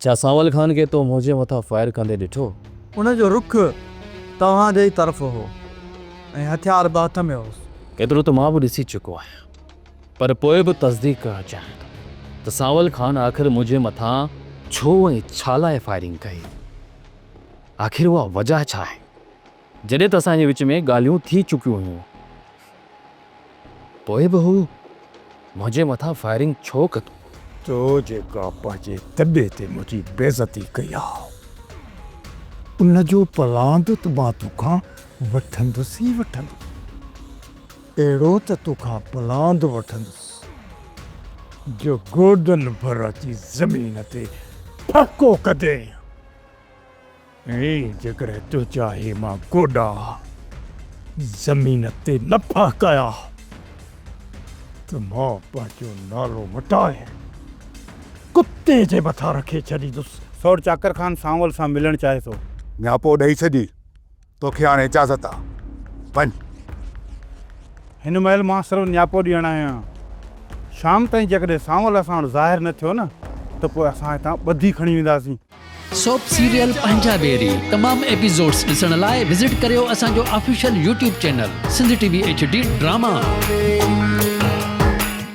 ڇا سانول خان کي تو منهنجي مٿان فائر ڪندي ڏٺو؟ ان جو رخ توهان جي ئي طرف هو ۽ هٿيار به هٿ ۾ هوس. ايترو ته مان به ڏسي چڪو آهيان پر پوء به تصديق ڪرڻ چاهيان ٿو ته سانول خان آخر منهنجي مٿان ڇو ۽ ڇا لاء فائرنگ ڪئي؟ آخر اها وجهه ڇا آهي؟ جڏهن ته اسان جي وچ ۾ ڳالهيون ٿي چڪيون هيون. پوء به هو منهنجي مٿان فائرنگ ڇو ڪندو؟ تو جيڪا پنهنجي دٻي تي منهنجي بيعزتي ڪئي آهي، ان جو پلان به مان تو کان وٺندس ئي وٺندس. اهڙو ته تو کان پلان به وٺندس جو گوڏن ڀر اچي زمين تي ڦڪو ڪندين. اي جيڪڏهن تنهنجا هي مان گوڏا زمين تي نه ڦهڪايا ته مان پنهنجو نالو مٽائي ڪتي جي مٿان رکي ڇڏيندس. سوڙ چاڪر خان سانول سان ملڻ چاهي ٿو. نياپو ڏئي ڇڏي. توکي هاڻي اجازت آ. وڃ. هن مهل مان صرف نياپو ڏيڻ آيو آهيان. شام تائين جيڪڏهن سانول اسان وٽ ظاهر نه ٿيو نه ته پوء اسان هتان ٻڌي کڻي وينداسين. سوپ سيريل پنهنجا بيري تمام ايپيزوڊس ڏسڻ لاء وزٽ ڪريو اسان جو official YouTube channel Sindh T V H D drama.